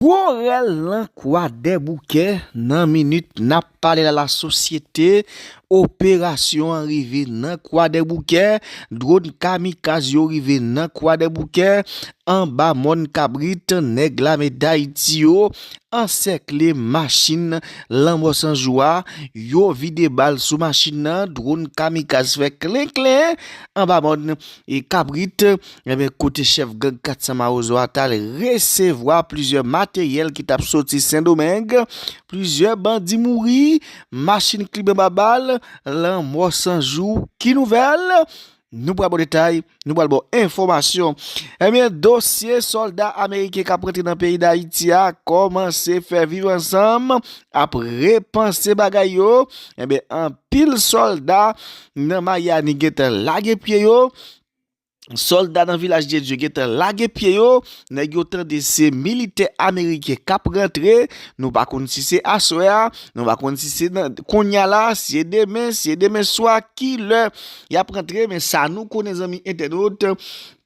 Gwo rèl nan Kwadèboukè, nan minit nap pale la la sosyete, operasyon an rive nan Kwadèboukè, dron kamikaz yo rive nan Kwadèboukè, anba mòn kabrit nèg lame dayiti yo ansèkle machin lanmò sanjou a, yo vide bal sou machin nan, dron kamikaz fè klenklen anba mòn kabrit. Ebyen kote chèf gang 400 mawozo a tal resevwa plizyè materyèl ki tap soti sendomeng, plizyè bandi mouri, machin klibe anba bal, lanmò san jou ki nouvèl? Nou pral baw detay, nou pral baw enfòmasyon. Ebyen dosye sòlda ameriken kap rantre nan peyi dayiti a kòmanse fè viv ansanm ap repanse bagay yo, ebyen anpil sòlda nan mayani gentan lage pye yo, Solda nan vilaj de Dieu gentan lage pye yo, nèg yo tande se militè ameriken kap rantre, nou pa konn si se aswè a, nou pa konn si se kounya la, si se demen, si se demen swa, ki lè yap rantre, men sa nou konnen zanmi entènot,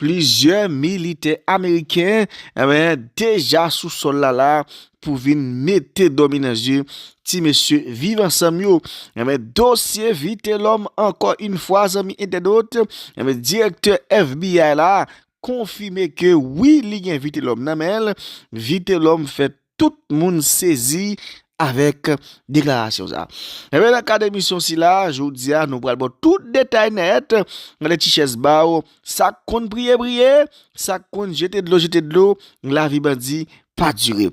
plizyè militè ameriken, eh deja sou sol la la, pou vin mete dòmi nan zye ti mesye viv ansanm yo enben dosye vitelòm ankò yn fwa zanmi entèdot enben direktè FBI la konfime ke wi li gen vitelòm nan menl vitelòm fè tout moun sezi avèk deklarasyon sa enben nan kad emisyon sila jodia nou pral baw tout detay nèt nan de ti chèz baw Sak konn priye priye, sak konn jete dlo jete dlo, lavi bandi pa dire.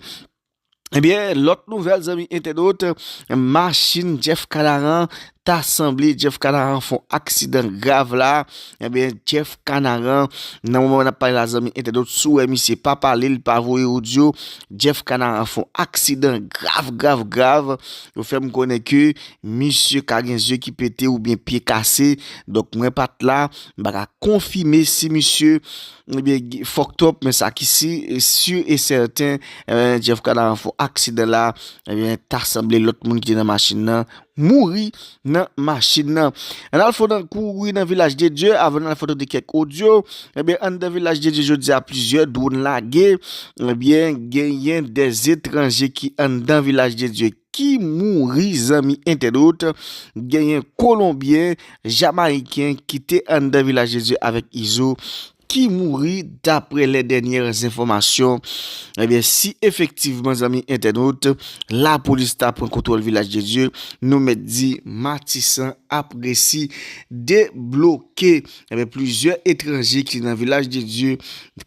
Ebyen lòt nouvèl zanmi entènot, machin Jeff Canaran ta sanble Jeff Canaran fon aksidan grav la, ebyen Jeff Canaran nan moman nap pale la zanmi entènot si w wè misye pa pale li pa voye odyo, Jeff Canaran fon aksidan grav grav grav, yo fè m konnen ke misye ka gen zye ki pete oubyen pye kase, donk mwen pat la, M pa ka konfime si misye fucked up men sa ki sur et certain Jeff Canaran fon aksidan la ta sanble lòt moun ki te nan machin nan mouri nan machin nan. An al fon nan kouri nan Vilaj de Dye avan nan al fon tande kèk odyo ebyen an nan Vilaj de Dye jodi a plizyè dron lage ebyen genyen 2 etranje ki anndan Vilaj de Dye. ki mouri zanmi entènot genyen kolonbyen jamayiken ki te anndan vilaj de Dye avèk izo ki mouri daprè lè dènyè zenfòmasyon ebyen si efektivman zanmi entènot lapolis ta pran kontwòl vilaj de Dye nou mèt di matisan ap resi debloke. Enben, plizyè etranje ki te nan Vilaj de Dye,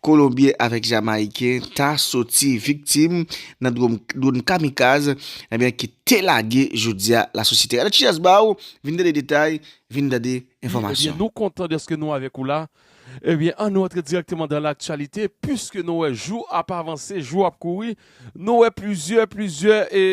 Kolonbyen avèk Jamayiken, ta soti viktim nan dwòn kamikaz, enben, ki te lage jodi a lasosyete. Gade Chiyas ba ou, vin tande detay, vin tande enfòmasyon. Ebyen nou kontan dèske nou avèk ou la, ebyen an nou antre dirèkteman dan laktyalite piske nou wè jou ap avanse, jou ap kouri, nou wè plizyè, plizyè e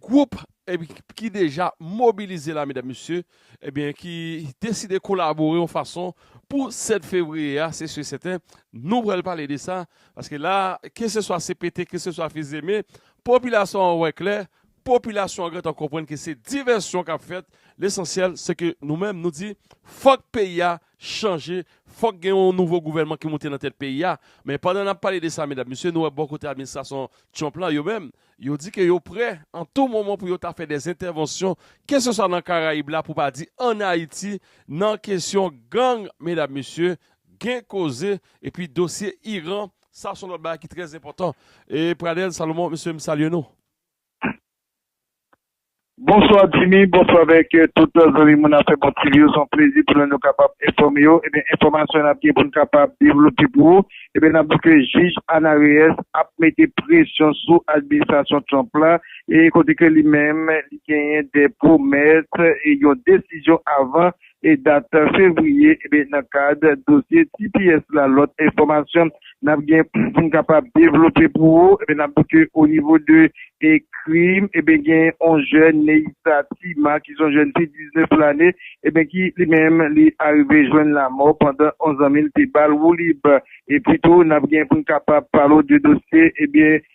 gwoup Ebyen ki deja mobilize la medam mesye ebyen ki deside kolabore yon fason pou 7 fevriye a se si sèten nou pral pale de sa paske la keseswa CPT keseswa fizeme popilasyon an wè klè popilasyon an gentan konprann ke se divèsyon kap fèt lesansyèl se ke nou menm nou di fòk peyi a chanje fòk gen yon nouvo gouvènman ki moute nan tèt peyi a men pandan nap pale de sa medam mesye nou wè bò kote administrasyon Trump la yo menm Yo di ke yo prè an tou moman pou yo ta fè dè entèvansyon keseswa nan Karayib la pou pa di an Ayiti nan kesyon gang medam mesye gen koze epi dosye Iran sa son lòt bagay ki trè enpòtan e Pradel Salomon mesye m salye nou. Bonswa Jimmy, bonswa avèk tout zanmi moun afè bon TV yo, se yon plezi pou nou nou kapab enfòme yo, ebyen enfòmasyon nap gen poun kapab devlope pou ou, ebyen nap di ke jij Ana Reyes ap mete presyon sou administrasyon Trump la e kote ke li menm li genyen de pwomès e yon desizyon avan e dat fevriye e nan kad dosye tps la lòt enfòmasyon nap gen poun kapab devlope pou ou e nap di ke o nivo de e krim e gen on jèn Neissa Tima ki son jèn fi 19 lane e ki li menm li arive jwenn lamò pandan on zanmil te bal woulib e pito nap gen poun kapab pale w de dosye e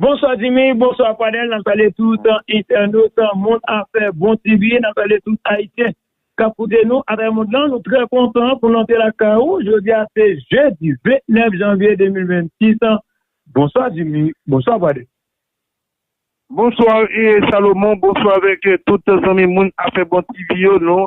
Bonswa Jimmy, bonswa Fadel, nap salye tout entènot Mond Afè Bon TV, nap salye tout Ayisyen kap koute nou atravè mond lan, nou trè kontan pou nou antre lakay ou, jodi a se jedi 29 janvye 2026 Bonswa Jimmy, bonswa Fadel. Bonsoir Salomon, bonsoir avèk tout zanmi moun afè bon TV yo, nou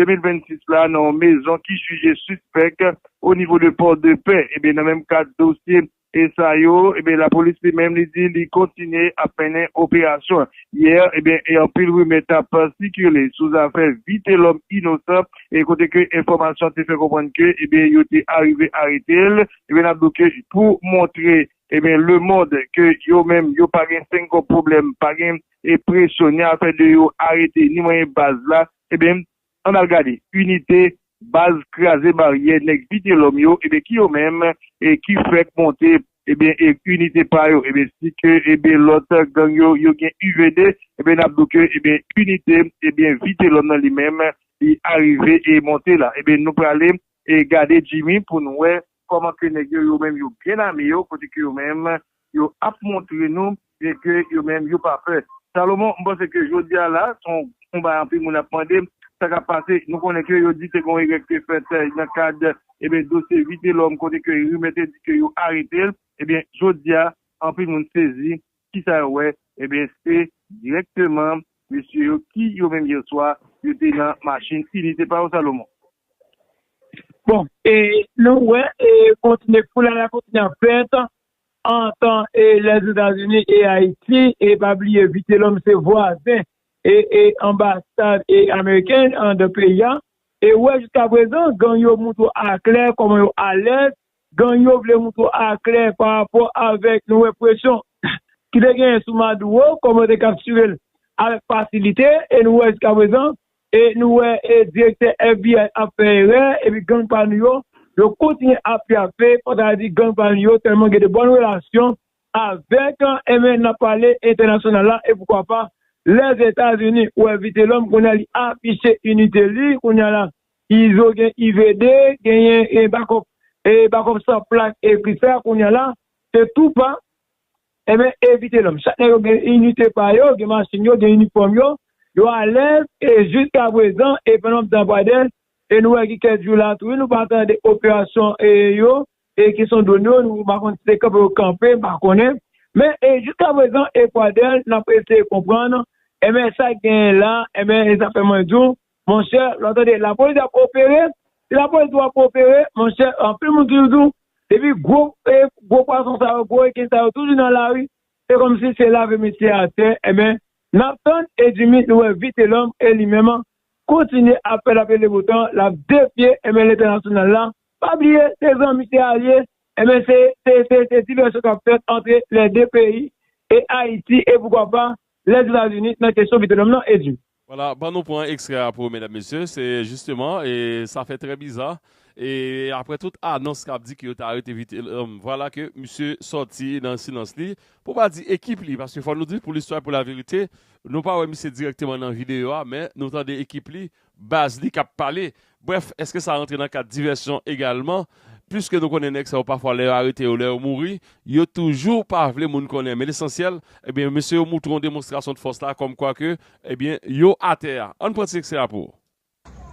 2026 la nan yon mezon ki jije sispèk o nivo de port de paix. Ebyen nan menm kad dosye e sa yo, ebyen lapolis li menm li di li kontinye ap mennen operasyon. Yè ebyen e anpil rimè tap sikile sou zafè Vitelòm inosan e kote ke enfòmasyon te fè konprann ke ebyen yo te arive arete l. Ebyen nap di w ke pou montre ebyen lemond ke yo menm yo pa gen 5 kòb pwoblèm pa gen. e presyone afè de yo arete ni manyen baz la ebyen ann al gade inite baz kraze baryè nèg vitelòm yo ebyen ki yo menm e ki fèk monte ebyen inite pa yo ebyen si ke ebyen lòt gang yo yo gen uvd ebyen n ap di w ke ebyen inite ebyen vitelòm nan li menm li arive e monte la ebyen nou prale e gade jimmy pou n wè Koman ke nèg yo yo menm yo byen ame yo kote ke yo menm yo ap montre nou byen ke yo menm yo pa pè. Salomon, m panse ke jodi a la son on bagay anpil moun ap mande sa kap pase. Nou konnen ke yo di te gon erè ki te fèt nan kad ebyen dosye Vitelòm kote ke rimè te di ke yo arete l. Ebyen jodi a anpil moun sezi Kisa yo wè? Ebyen se dirèkteman mesye yo ki yo menm yè swa yo te nan machin ini se pa yo Salomon? Bon e nou wè e kontinye foulay la kontinye ap fèt antan e Lèzetazini e Ayiti e pa bliye Vitelòm se vwazen e e anbasad e ameriken andan peyi a e wè jiskaprezan gang yo moutre aklè kòman yo alèz Gang yo vle moutre aklè pa rapò avèk yon represyon ki te genyen sou Maduro, kòman yo te kaptire l avèk fasilite, e nou wè jiskaprezan, e nou wè direktè FBI ap fè erè, epi gang pa nou yo, yo kontinye ap pyafe, mwen ta di gang pa nou yo tèlman gen de bòn relasyon avèk, enben, n ap pale entènasyonal la, e poukwa pa Lèzetazini, ou wè Vitelòm kounye a li afiche inite li kounye a la, Izo gen IVD genyen e bakop e bakop san plak e kri fè a kounya la se tou pa enben evite lòm chak nèg yo gen inite pa yo gen machin yo gen inifòm yo yo alèz e jiska prezan e fè lòm zanvwadè e nou wè gen kèk jou la tou wi nou pa tande operasyon e yo e ki son dwon yo nou pa konn si se kanpe yo kanpe m pa konnen men e jiska prezan e fwadè nap eseye konprann enben sa genyen la enben e sa fè mwen di w Monchè, lò tande lapolis ap opere, si lapolis tou ap opere, monchè, anpil moun toujou di w, depi gwo gwo pwason sa yo, gwo reken sa yo toujou nan lari, se kòmsi se lave mesye a tè, enben, n ap tann e Jimmy nou wè Vitelòm e li menm kontinye ap fè lapli lebo tan, l ap defye, enben, lentènasyonal la, pa bliye se zanmi, se alye, enben, se se se divèsyon k ap fèt antre lè de peyi e Ayiti e poukwa pa Blèd Etazini nan kesyon Vitelòm lan e di. Wala, ban nou pran ekstrè a pou medam mesye, se jisteman, e sa fè trè biza, e aprè tout anons kap di ke yo te arete Vitelòm, vwala ke misye sòti nan silans li, pou pa di ekip li, paske fò nou di pou listwa e pou laverite, nou pa wè misye dirèkteman nan videyo a, men nou tande ekip li, baz li k ap pale. Brèf, èske sa rantre nan kad divèsyon egalman? Piske nou konnen nèg sa yo pafwa lè yo arete yo, lè yo mouri, yo toujou pa vle moun konnen. Men lesansyèl, ebyen, mesye yo moutre yon demonstrasyon de fòs la kòmkwa ke, ebyen, yo atè a. Ann pran ti ekstrè a pou.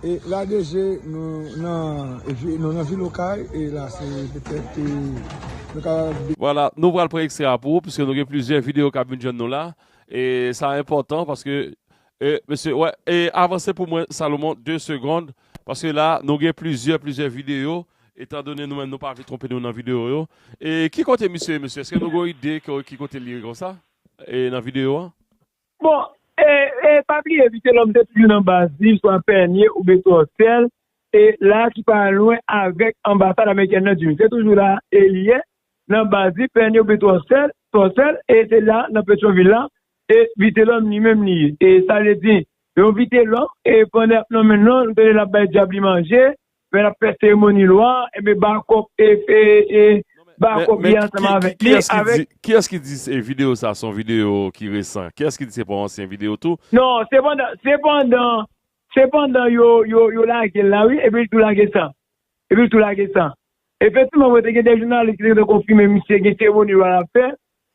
E lage je nou nan vi, nou nan vil Okay, e la se petèt e nou ka. Vwala, nou pral pran ekstrè a pou ou, piske nou gen plizyè videyo k ap vin jwenn nou la. E sa enpòtan paske E mesye wè e avanse pou mwen Salomon 2 segond paske la nou gen plizyè plizyè video etan done nou menm nou pa vle twonpe nou nan video yo e ki kote misye ye mesye eske nou gon ide ki kote li ye konsa e nan video an. Bon e e pa bliye Vitelòm te toujou nan baz li swa Pènye oubyen Tòsèl e la ki pa lwen avèk anbasad amerikèn nan Diri se toujou la e li ye nan baz li Pènye oubyen Tòsèl Tòsèl e se la nan Petyon vil la E vitelòm li menm li ye. E sa vle di, yon vitelòm, e pandan y ap nonmen l lan, nou tande l ap bay dyab li manje, lè l ap fè seremoni lwa a, enben ba kòb e, e, ba kòb li ansanm avèk li, avèk. Kiyès ki di se videyo sa son videyo ki resan? Kiyès ki di se pa yon ansyen videyo tou? Non, se pandan, se pandan, se pandan yo, yo, yo lage l la wi, epi l tou lage sa. Epi l tou lage sa. Efektivman, mwen te gen 2 jounalis ki te konfime misye gen seremoni lwa l ap fè,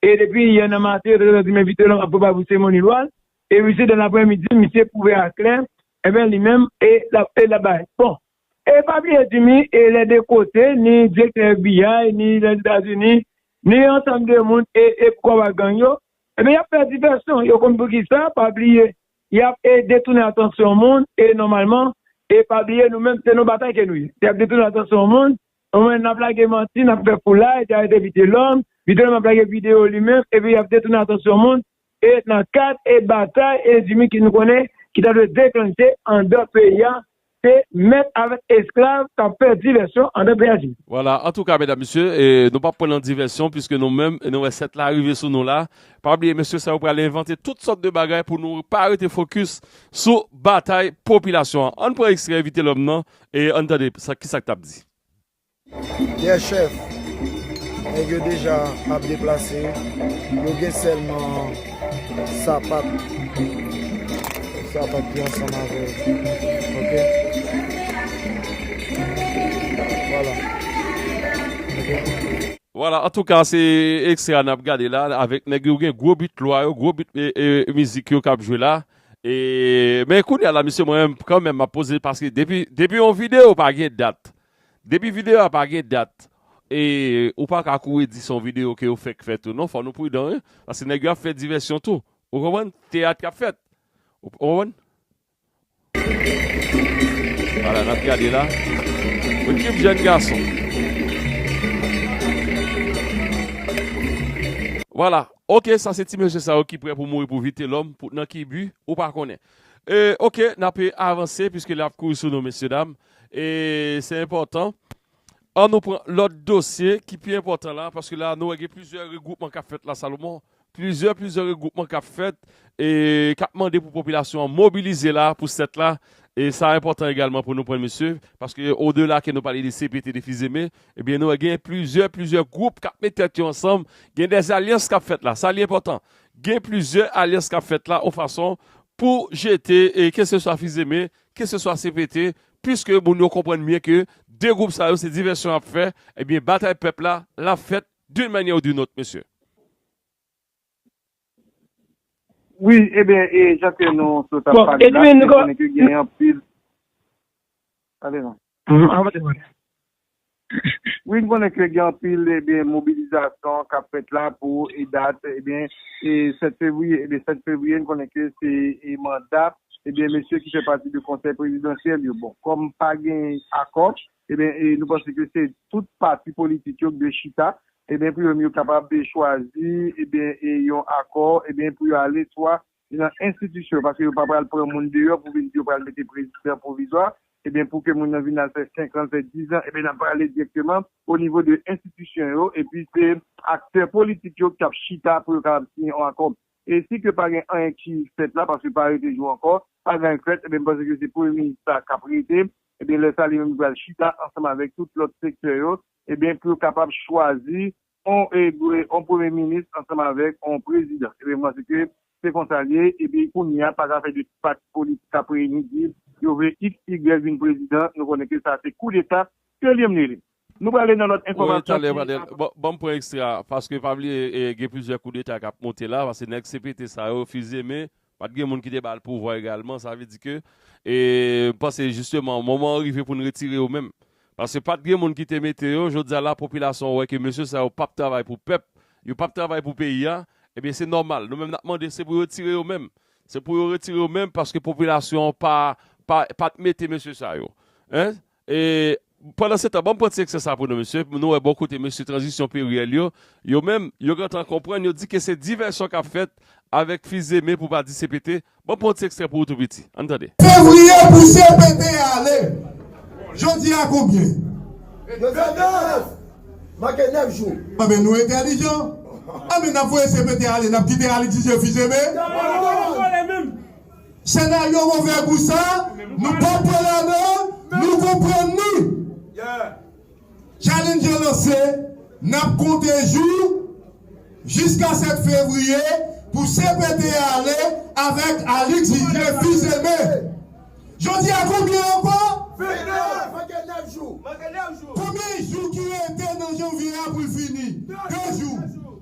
E depi yè nan maten yo te gentan di m envite l an aprè barbou seremoni lwa l, e wi se dan aprè midi misye pwouve a klè enben li menm e lap e lap bay bon e pa bliye Jimmy e lè de kote ni direktè FBI ni lèzetazini ni ansanm de moun e e pou kòm ak gang yo enben yap fè divèsyon yo konn poukisa pa bliye yap e detounen atansyon moun e nòmalman e pa bliye nou menm se nan batay ke nou ye yap detounen atansyon moun. Anmwey nap lage manti nap fè foulay dèyè de Vitelòm, Vitelòm ap lage video li menm epi yap detounen atansyon moun e nan kad e batay e zimi ki nou konnen ki ta dwe deklanche andan peyi a se mèt avèk esklav kap fè divèsyon andan peyi Ayiti. Vwala antouka medam mesye nou pap pran nan divèsyon piske nou menm nou wè 7 la rive sou nou la pa bliye mesye sa yo pral envante tout sòt de bagay pou nou pa rete fokis sou batay popilasyon an ann pran ekstrè Vitelòm nan E ann tande sa kisa k t ap di. Yè chèf, nèg yo deja ap deplase, yo gen sèlman sapat, sapat ki ansanm avè l. Ok. Vwala. Ok. Vwala, antouka se ekstrè a n ap gade la avèk nèg yo gen gwo bit lwa yo, gwo bit mizik yo k ap jwe la. Men kounya la mesye mwen menm kan menm map poze paske depi yon video pa gen dat depi video a pa gen dat e ou pa ka kouri di son video ke yo fèk fè tou non fò nou pridan wi paske nèg yo ap fè divèsyon tou ou konprann teyat kap fèt ou konprann ala nap gade la yon tchuip jèn gason wala Ok sa se ti mesye sa yo ki prè pou mouri pou vitelom pou nan ki but ou pa konnen euh ok nap avanse puiske lè ap kouri sou nou mesye dam euh se enpòtan an nou pran lòt dosye ki pi enpòtan la paske la nou wè gen plizyè regwoupman kap fèt la Salomon plizyè plizyè regwoupman kap fèt euh kap mande pou popilasyon an mobilize la pou 7 la sa enpòtan egalman pou nou pran mesye paske odela ke nou pale de CPT de Fils Aimé Ebyen nou wè gen plizyè plizyè gwoup kap met tèt yo ansanm, gen dè alyans kap fèt la, sa li enpòtan. Gen plizyè alyans kap fèt la yon fason pou jete ke se swa fizeme, ke se swa CPT, puiske moun yo konprann byen ke 2 gwoup sa yo se divèsyon yap fè, ebyen batay pèp la lap fèt d'une manière ou d'une autre mesye. Wi, eben, e jan ke nou sot ap pale la, nou konnen ke gen anpil. Pale non. Avanse, avanse. Wi, nou konnen ke gen anpil, eben, mobilizasyon kap fèt la pou e dat, eben, e 7 fevriye. Eben, 7 fevriye, nou konnen ke se e manda, eben, mesye ki fè pati de konsèy prezidansyèl yo. Bon, kòm pa gen akò, Ebyen nou panse ke se tout pati politik yo ki dwe chita ebyen pou yo menm yo kapab chwazi ebyen yon akò ebyen pou yo ale swa nan enstitisyon paske yo pa pral pran moun deyò pou vin di yo pral mete prezidan pwovizwa ebyen pou ke moun nan vin al fè 5 an fè 10 an ebyen nap pale direkteman o nivo de enstitisyon yo epi se aktè politik yo ki tap chita pou yo kapab siyen yon akò e si ke pa gen anyen ki fèt la paske pa rete jou ankò pa gen anyen k fèt ebyen m panse ke se premye minis la kap rete Ebyen lè sa li menm li pral chita ansanm avèk tout lòt sektè yo ebyen pou yo kapab chwazi on on premye minis ansanm avèk on prezidan. Ebyen m panse ke se konsa l ye epi kounye a pa ka fè 2 ti pati politik ap reyini di yo vle x y vin prezidan nou konnen ke sa se koudeta ke li menm li li. Nou prale nan lòt enfòmasyon ki ap. Banm pran extra a paske pa bliye gen plizyè kou deta kap monte la paske nèg CPT sa yo fizye men pat gen moun ki te bal pouvwa egalman sa vle di ke m panse jisteman moman an rive poun retire yo menm paske pat gen moun ki te mete yo jodia la popilasyon an wè ke mesye sa yo pap travay pou pèp yo pap travay pou peyi a ebyen se nòmal nou menm nap mande se pou yo tire yo menm se pou yo retire yo menm paske popilasyon an pa pat mete mesye sa yo hein E pandan se tan banm pran ti eksè sa pou nou mesye pou nou wè bon kote mesye tranzisyon peryèl yo, yo menm, yo gentan konprann yo di ke se divèsyon kap fèt avèk fize men pou pa di CPT, banm pran yon ti ekstrè pou ou tou piti, ann tande. Fevrier pou CPT ale! Jodi a konbyen? Yo di 9! Manke 9 jou! Anben nou entèlijan! Anben nap voye CPT ale nap kite Alix Didier fize men? Yo pa konn vole menm! Senaryo move gou sa nou pa pwe ladan l nou konprann li Challenger lanse nap konte jou jiska 7 fevriye pou CPT a ale avèk Alix Vivier fils Aimé Jodi a konbyen ankò 29 manke 9 jou konbyen jou ki rete nan janvye a pou l fini 2 jou.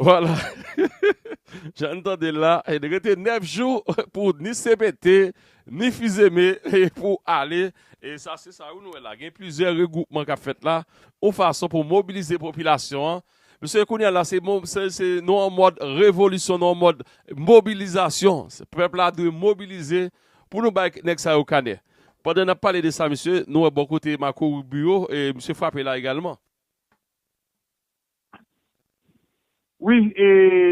Voilà! Jan n tande l la, li rete 9 jou pou ni cpt, ni Fils-Aimé pou ale. E sa se sa wi nou wè la. Gen plizyè regwoupman k ap fèt la yon fason pou mobilize popilasyon an. Paske kounye a la se nou an mòd revolisyon, nou an mòd mobilizasyon. Pèp la dwe mobilize pou nou bay nèg sa yo kanè. Pandan n ap pale de sa mesye, nou wè bò kote Marco Rubio, misye frape la egalman. Wi, e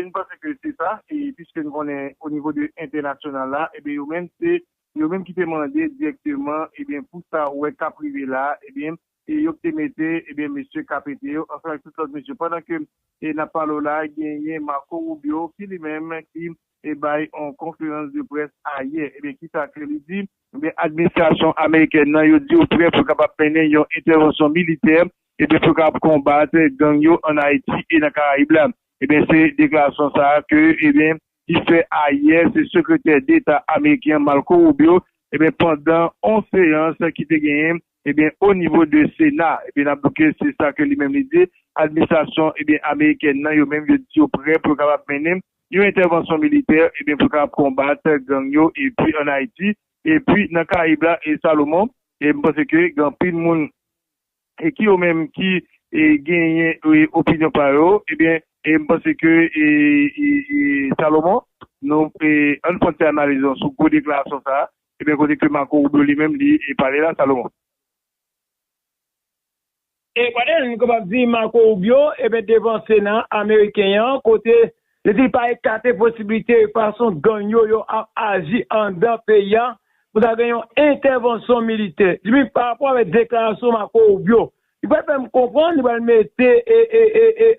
n panse ke se sa, e piske n konnen o nivo de entènasyonal la, ebyen yo menm se yo menm ki te mande dirèkteman, ebyen pou sa ou wè kap rive la, ebyen e yo k te mete, ebyen mesye Capete yo ansanm ak tout lòt mesye. Pandan ke e nap pale w la genyen Marco Rubio ki li menm ki e bay on konferans de près ayè, ebyen kisa ke li di, ebyen administrasyon amerikèn nan yo di yo prè pou kapab mennen yon entèvansyon militè Ebyen pou yo kapab konbat gang yo an Ayiti e nan Karayib la. Ebyen se deklarasyon sa a ke ebyen li fè ayè se sekretè deta ameriken an Marco Rubio ebyen pandan on seyans ki te genyen ebyen o nivo de sena. Ebyen n ap di w ke se sa ke li menm li di administrasyon ebyen amerikèn nan yo menm yo di yo prè pou yo kapab mennen yon entèvansyon militè ebyen pou kapab konbat gang yo epi an Ayiti epi nan Karayib la e Salomon e m panse ke gen anpil moun ki yo menm ki genyen opinyon pa yo ebyen m panse ke Salomon nou ann pran ti analiz nou sou gwo deklarasyon sa ebyen kote ke Marco Rubio li menm li pale la Salomon. Ekwate nou kapab di Marco Rubio ebyen devan sena ameriken an kote Li di li pa ekate posibilite fason gang yo yo ap aji anndan peyi a pou ta gen yon entèvansyon militè. Li di men parapò avèk deklarasyon Marco Rubio, li pral fè m konprann, li pral mete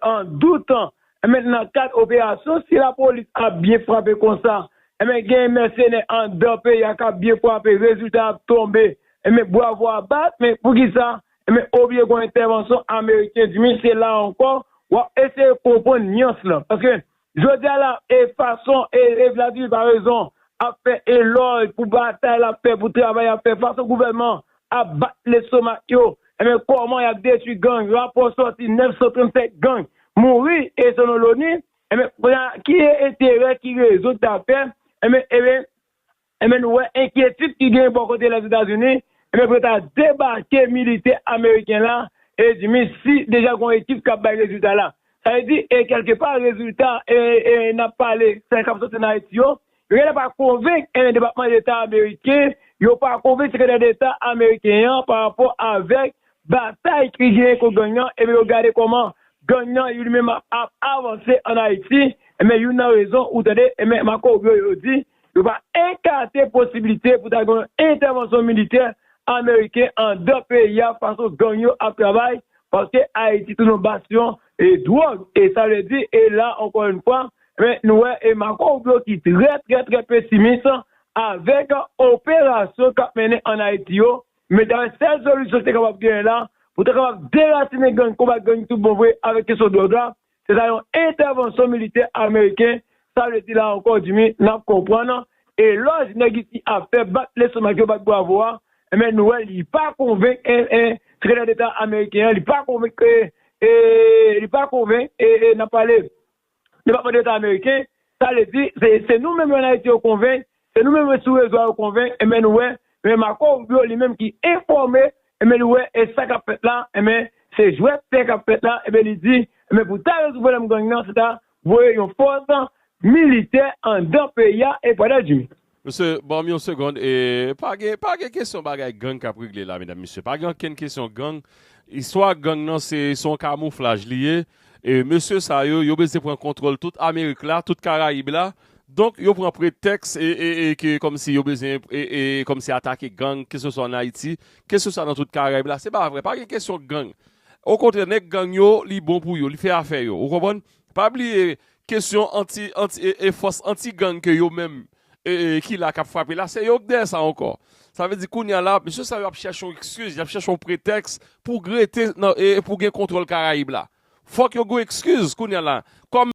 an dout enben nan kad operasyon si lapolis ap byen frape konsa enben gen mèsenè anndan peyi a k ap byen frape rezilta a ap tonbe enben bwavo a bat men poukisa Ebyen oblye gon entèvansyon ameriken di mi se la ankò wap eseye konprann nyans lan paske jodi a la e fason e e Vladimir Paraison ap fè elòj pou batay lap fè pou travay lap fè fason gouvènman ap bat lestomak yo ebyen kòman yap detwi gang rapò sòti 937 gang mouri e selon loni ebyen kounye a ki enterè ki rezon ki ta fè ebyen ebyen Enben nou wè enkyetid ki genyen bò kote Lèzetazini, enben pou yo ta debake militè ameriken la, e di mi si deja gon ekip kap bay rezilta la. Sa vle di e kèlke pa rezilta e e nap pale sèl kap soti nan Ayiti yo, yo genlè pa konvenk enben depatman deta ameriken yo pa konvenk sekretè deta ameriken an pa rapò avèk batay ki genyen kont gang nan enben yo gade kòman gang nan li menm ap avanse an Ayiti enben youn nan rezon ou tande enben Marco Rubio yo di Yo pa ekate posibilite pou ta gen yon entèvansyon militè ameriken andan peyi a fason gang yo ap travay paske Ayiti tounen yon basyon dwòg e sa vle di e la ankò yon fwa nou wè e Marco Rubio ki trè trè trè pesimis avèk operasyon k ap mennen ann Ayiti yo men ta wè sèl solisyon ki te kapab genyen la pou ta kapab derasinen gang konbat gang tout bon vre avèk kesyon dwòg la Se ta yon entèvansyon militè ameriken sa vle di la ankò Jimmy nap konprann elòj nèg isi ap fè bat lestomak yo bat bwavo a enben nou wè li pa konvenk sekretè deta ameriken an li pa konvenk li pa konvenk nap pale depatman deta ameriken sa vle di se nou menm yo an ayiti yo konvenk Se nou menm yo sou rezo a yo konvenk enben nou wè men Marco Rubio li menm ki enfòme enben nou wè e sa kap fèt la enben se jwèt tè kap fèt la enben li di enben pou ta rezoud pwoblèm gang nan se ta voye yon fòs militè andan peyi a e pwada Jimmy. Mesye banm yon segond e pa gen pa gen kesyon bagay gang kap regle la medam mesye pa gen ankenn kesyon gang istwa gang nan se se yon kamouflaj li ye Mesye sa yo, yo bezyen pran kontwòl tout Amerik la, tout Karayib la. Donk, yo pran pretèks ke kòmsi yo bezyen kòmsi atake gang, keseswa ann Ayiti, keseswa nan tout Karayib la. Se pa vre, pa gen kesyon gang. Okontrè, nèg gang yo, li bon pou yo, li fè afè yo. Ou konprann? Pa bliye, kesyon anti, anti, fòs anti-gang ke yo menm ki la kap frape la se yo k dèyè sa ankò sa vle di kounya la mesye sa yo ap chèche yon ekskiz yap chèche yon pretèks pou grete pou gen kontwòl karayib la fòk yo gen yon ekskiz kounya la kòm